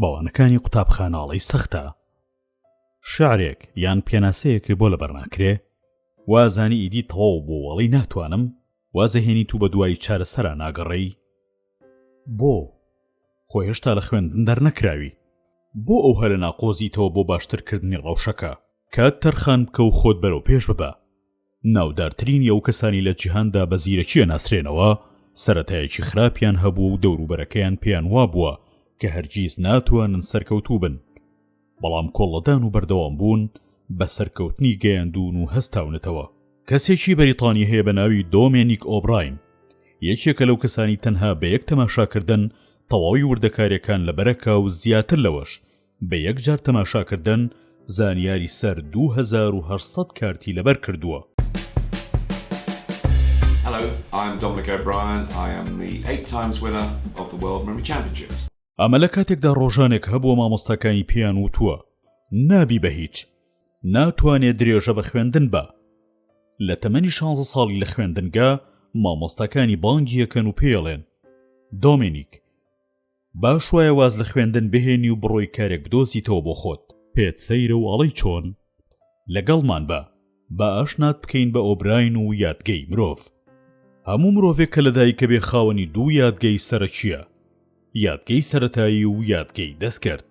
بەوانەکانی قوتابخاناڵی سەختە شعرێک یان پێناسەیەک بۆ لە بەرناکرێ وازانی ئیدی تەواو بۆ وەڵی ناتوانم وازەهێنی تو بە دوای چارەسەرا ناگەڕێی بۆ خۆ هێشتا لە خوێندن دەرنەکراوی بۆ ئەو هەرە ناقۆزیتەوە بۆ باشترکردنی ڕەوشەکە کات تەرخان بکە و خۆت بەرەو پێش ببە ناودارترینی ئەو کەسانی لە جیهاندا بە زیرەکیە ناسرێنەوە سەتایەکی خراپیان هەبوو و دەوروبەرەکەیان پێیان وابووە کە هەرگیز ناتوانن سەرکەوتوو بن بەڵام کۆڵەدان و بەردەوام بوون بە سەرکەوتنی گەیاندون و هەستاونەتەوە کەسێکی بەریتانی هەیە بە ناوی دۆمێنیک ئۆبراین یەکێکە لەو کەسانی تەنها بە یەک تەماشاکردن تەواوی وردەکاریەکان لە بەرەکە و زیاتر لەوەش بە یەک جار تەماشاکردن زانیاری سەر دوو هەزار و هەشت سەد کارتی لەبەر کردووە. ئەمە لە کاتێکدا ڕۆژانێک هەبووە مامۆستاکانی پێیان وتووە نابی بە هیچ، ناتوانێ درێژە بە خوێندن بە. لە تەمەنی شانزە ساڵی لە خوێندنگە مامۆستاکانی بانگی یەکەن و پێڵێن، دۆمینیک، باش وایە واز لە خوێندن بهێنی و بڕۆی کارێک بدۆزیتەوە بۆ خۆت پێت سەیرە و ئەڵەی چۆن لەگەڵمان بە با ئاشنات بکەین بە ئۆبراین و یادگەی مرۆڤ هەموو مرۆڤێک کە لەدایکە بێ خاوەنی دوو یادگەی سەرەکیە یادگەی سەتایی و یادگەی دەستکرد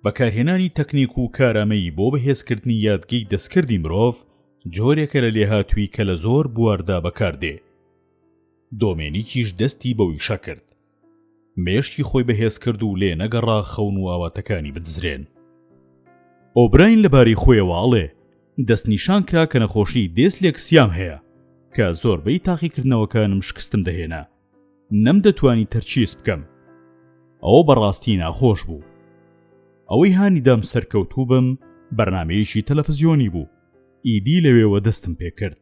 بەکارهێنانی تەکنیک و کارامەیی بۆ بەهێزکردنی یادگەی دەستکردی مرۆڤ جۆرێکە لە لێهاتووی کە لە زۆر بواردا بەکاردێ دۆمێنیکیش دەستی بە ویشە کرد مێشکی خۆی بەهێز کرد و لێ نەگەڕا خەون و ئاواتەکانی بدزرێن ئۆبراین لەباری خۆیەوە ئەڵێ دەستنیشان کرا کە نەخۆشی دێس لێکسیام هەیە کە زۆربەی تاقیکردنەوەکانم شکستم دەهێنا نەم دەتوانی تەرچیس بکەم ئەوە بەڕاستی ناخۆش بوو ئەوەی هانیدام سەرکەوتوو بم بەرنمەیەکی تەلەفزیۆنی بوو ئیدی لەوێوە دەستم پێکرد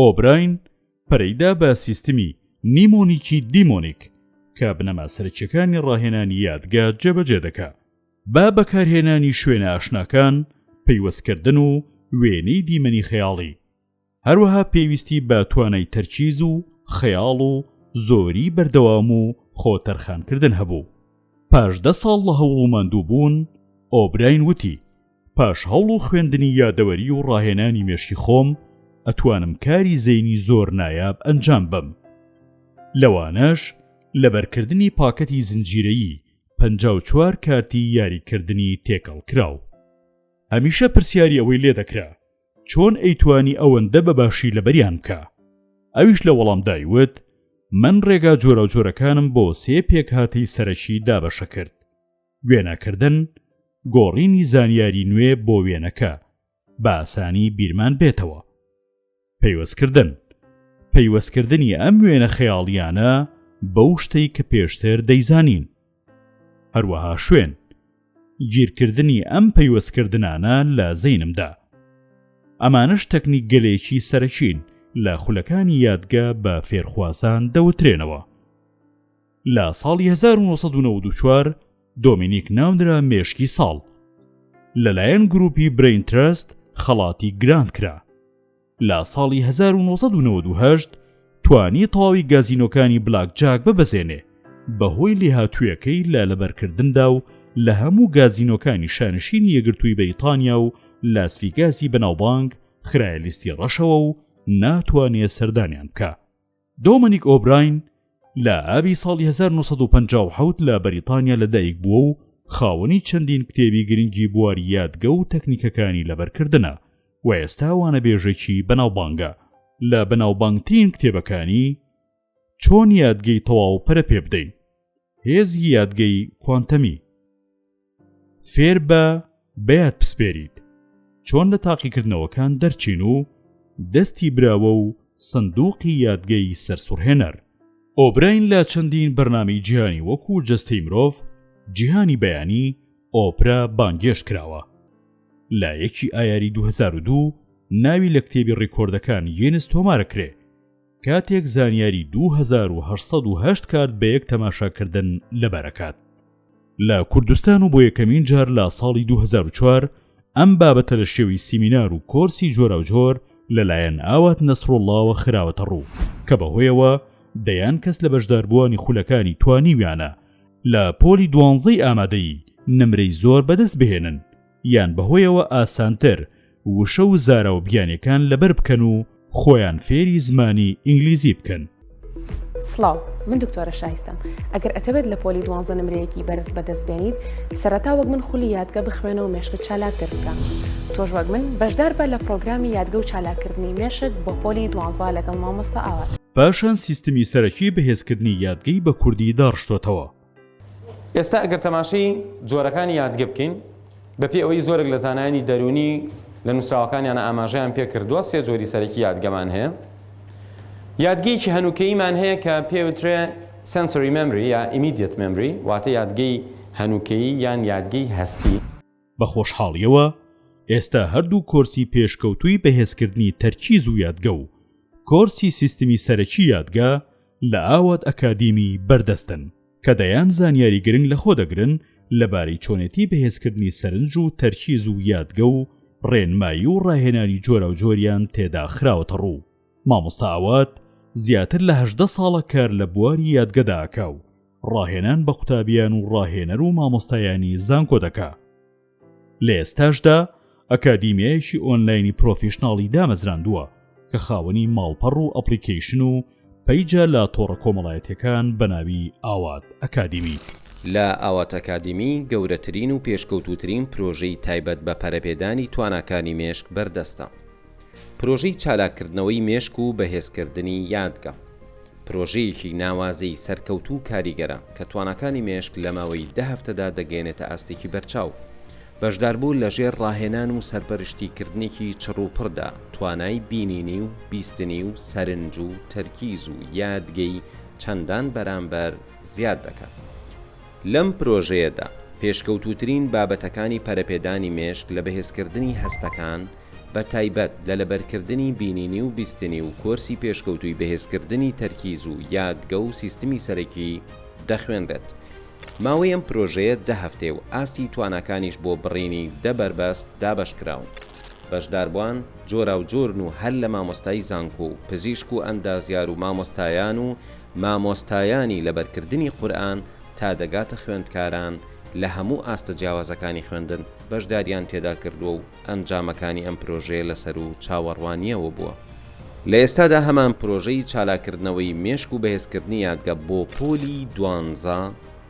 ئۆبراین پەرەیدا بە سیستمی نیمۆنیکی دیمۆنیک کە بنەما سەرکیەکانی ڕاهێنانی یادگە جێبەجێ دەکا با بەکارهێنانی شوێنە ئاشناکان پەیوەستکردن و وێنەی دیمەنی خەیاڵی هەروەها پێویستی بە توانای تەرکیز و خەیاڵ و زۆری بەردەوام و خۆتەرخانکردن هەبوو پاش دە ساڵ لە هەوڵوماندوو بوون ئۆبراین وتی پاش هەوڵ و خوێندنی یادەوەری و ڕاهێنانی مێشکی خۆم ئەتوانم کاری زەینی زۆر نایاب ئەنجام بم لەوانەش لەبەرکردنی پاکەتی زنجیرەیی پ چوار کارتی یاریکردنی تێکەڵ کراو هەمیشە پرسیاری ئەوەی لێ دەکرا چۆن ئەیتوانی ئەوەندە بە باشی لەبەریان بکە ئەویش لە وەڵام دایوت من ڕێگا جۆرە جۆرەکانم بۆ سێ پێکهاتەی سەرەکی دابەشە کرد وێنەکردن، گۆڕینی زانیاری نوێ بۆ وێنەکە بە ئاسانی بیرمان بێتەوە. پەیوەستکردن، پەیوەستکردنی ئەم وێنە خەیاڵیانە بەو شتەی کە پێشتر دەیزانین. هەروەها شوێن، گیرکردنی ئەم پەیوەستکردنانە لە زەینمدا. ئەمانش تەکنیک گەلێکی سەرەکین لە خولەکانی یادگە بە فێرخوازان دەوترێنەوە. لە ساڵی 1994 دۆمینیک ناونرا مێشکی ساڵ لەلایەن گروپی برین ترست خەڵاتی گرانت کرا لە ساڵی 1998 توانی تەواوی گازینۆکانی بلاک جاک ببەزێنێ بەهۆی لێهاتوویەکەی لە لەبەرکردندا و لە هەموو گازینۆکانی شانشینی یەگرتووی بەیتانیا و لاسفیگاسی بەناوبانگ خرالیستی ڕەشەوە و ناتوانێ سەردانیان بکە دۆمنیک ئۆبراین لە ئابی ساڵی 1950 لە بەریتانیا لەدایک بووە و خاوەنی چەندین کتێبی گرنگی بواری یادگە و تەکنیکەکانی لەبەرکردنە و ئێستا وانەبێژێکی بەناوبانگە لە بەناوبانگترین کتێبەکانی چۆن یادگەی تەواو پەرە پێ بدەین هێزی یادگەی کوانتەمی فێر بە بەیاد پسپێریت چۆن لە تاقیکردنەوەکان دەرچین و دەستی براوە و سندوقی یادگەی سەرسوڕهێنەر ئۆبراین لە چەندین بەرنامی جیهانی وەکو جەستەی مرۆڤ جیهانی بەیانی ئۆپرا بانگێشت کراوە لە یەکی ئایاری 2002 ناوی لە کتێبی ڕیکۆردەکان یینس تۆمارە کرێ کاتێک زانیاری دوو هەزار و هەشت سەد و هەشت کارت بە یەک تەماشاکردن لەبەرەکات لە کوردستان و بۆ یەکەمین جار لە ساڵی 2004 ئەم بابەتە لە شێوی سیمینار و کۆرسی جۆراوجۆر لەلایەن ئاوات نەسرۆڵڵاوە خراوەتە ڕوو کە بەهۆیەوە دەیان کەس لە بەشداربووانی خولەکانی توانیویانە لە پۆلی دوانزەی ئامادەیی نمرەی زۆر بەدەست بهێنن یان بەهۆیەوە ئاسانتر وشە و زاراو بیانیەکان لەبەر بکەن و خۆیان فێری زمانی ئینگلیزی بکەن. سڵاو من دکتۆرە شایستەم ئەگەر ئەتەوێت لە پۆلی دوانزە نمرەیەکی بەرز بەدەست بێنیت سەرەتا وەک من خولی یادگە بخوێنە و مێشکت چالاکتر بکە تۆش وەک من بەشدار بە لە پرۆگرامی یادگە و چالاکردنی مێشک بۆ پۆلی دوانزە لەگەڵ مامۆستا ئاوات پاشان سیستمی سەرەکی بەهێزکردنی یادگەی بە کوردی داڕشتۆتەوە ئێستا ئەگەر تەماشەی جۆرەکانی یادگە بکەین، بەپێی ئەوەی زۆرێک لە زانایانی دەروونی لە نووسراوەکانیانە ئاماژەیان پێ کردووە، سێ جۆری سەرەکی یادگەمان هەیە. یادگەیەکی هەنووکەییمان هەیە کە پێی وترێ Sensory Memory یا Immediate Memory، واتە یادگەی هەنووکەیی یان یادگەی هەستی. بە خۆشحاڵیەوە ئێستا هەردوو کۆرسی پێشکەوتووی بەهێزکردنی تەرکیز و یادگە و کۆرسی سیستمی سەرەکی یادگە لە ئاوات ئەکادیمی بەردەستن کە دەیان زانیاری گرنگ لە خۆ دەگرن لەبارەی چۆنێتی بەهێزکردنی سەرنج و تەرکیز و یادگە و ڕێنمایی و ڕاهێنانی جۆرە و جۆریان تێدا خراوەتە ڕوو مامۆستا ئاوات زیاتر لە هەژدە ساڵە کار لە بواری یادگەداکە و ڕاهێنان بە قوتابیان و ڕاهێنەر و مامۆستایانی زانکۆ دەکا لە ئێستاشدا ئەکادیمیایەکی ئۆنلاینی پرۆفیشنناڵی دامەزراندووە کە خاوەنی ماڵپەڕ و ئەپلیکیشن و پەیجە لە تۆڕە کۆمەڵایەتەکان بەناوی ئاوات ئەکادیمی. لە ئاوات ئەکادیمی گەورەترین و پێشکەوتووترین پرۆژەی تایبەت بە پەرەپێدانی تواناکانی مێشک بەردەستە. پرۆژەی چالاککردنەوەی مێشک و بەهێزکردنی یادگە، پرۆژەیەکی ناوازەی سەرکەوتوو و کاریگەرە کە تواناکانی مێشک لە ماوەی دە هەفتەدا دەگەیەنێتە ئاستێکی بەرچاو. بەشداربوو لە ژێر ڕاهێنان و سەرپەرشتیکردنێکی چڕوپڕدا، توانای بینینی و بیستنی و سەرنج و تەرکیز و یادگەی چەندان بەرامبەر زیاد دەکات. لەم پرۆژەیەدا، پێشکەوتووترین بابەتەکانی پەرەپێدانی مێشک لە بەهێزکردنی هەستەکان، بە تایبەت لە لەبەرکردنی بینینی و بیستنی و کۆرسی پێشکەوتووی بەهێزکردنی تەرکیز و یادگە و سیستمی سەرەکی دەخوێنرێت. ماوەی ئەم پرۆژەیە دە هەفتەیە و ئاستی تواناکانیش بۆ بڕینی دە بەربەست دابەشکراون. بەشداربوان جۆراوجۆرن و هەر لە مامۆستای زانکۆ و پزیشک و ئەندازیار و مامۆستایان و مامۆستایانی لەبەرکردنی قورئان تا دەگاتە خوێندکاران لە هەموو ئاستە جیاوازەکانی خوێندن بەشدارییان تێدا کردووە و ئەنجامەکانی ئەم پرۆژەیە لەسەرو چاوەڕوانییەوە بووە. لە ئێستادا هەمان پرۆژەی چالاککردنەوەی مێشک و بەهێزکردنی یادگە بۆ پۆلی دوانزە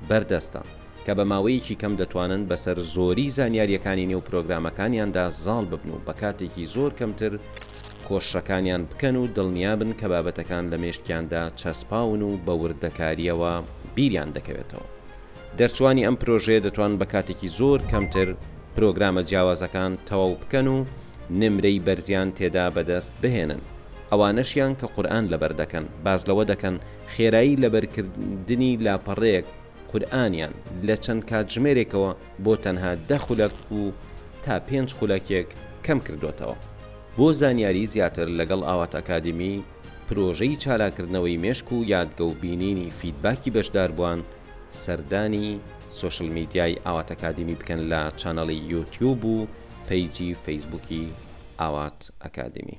بەردەستە، کە بە ماوەیەکی کەم دەتوانن بەسەر زۆری زانیارییەکانی نێو پرۆگرامەکانیاندا زاڵ ببن و بە کاتێکی زۆر کەمتر کۆششەکانیان بکەن و دڵنیابن کە بابەتەکان لە مێشکیاندا چەسپاون و بە وردەکارییەوە بیریان دەکەوێتەوە. دەرچوانی ئەم پرۆژەیە دەتوان بە کاتێکی زۆر کەمتر پرۆگرامە جیاوازەکان تەواو بکەن و نمرەی بەرزیان تێدا بەدەست بهێنن. ئەوانەشیان کە قورئان لەبەر دەکەن، باس لەوە دەکەن خێرایی لەبەرکردنی لاپەڕەیەک قورئانیان لە چەند کاتژمێرێکەوە بۆ تەنها دە خولەک و تا پێنج خولەکێک کەم کردۆتەوە. بۆ زانیاری زیاتر لەگەڵ ئاوات ئەکادیمی. پرۆژەی چالاکردنەوەی مێشک و یادگە و بینینی فیدباکی بەشداربوان سەردانی سۆشل میدیای ئاواتئەکادیمی بکەن لە چانەڵی یوتیوب و پەیجی فەیسبوکی ئاوات ئەکادیمی.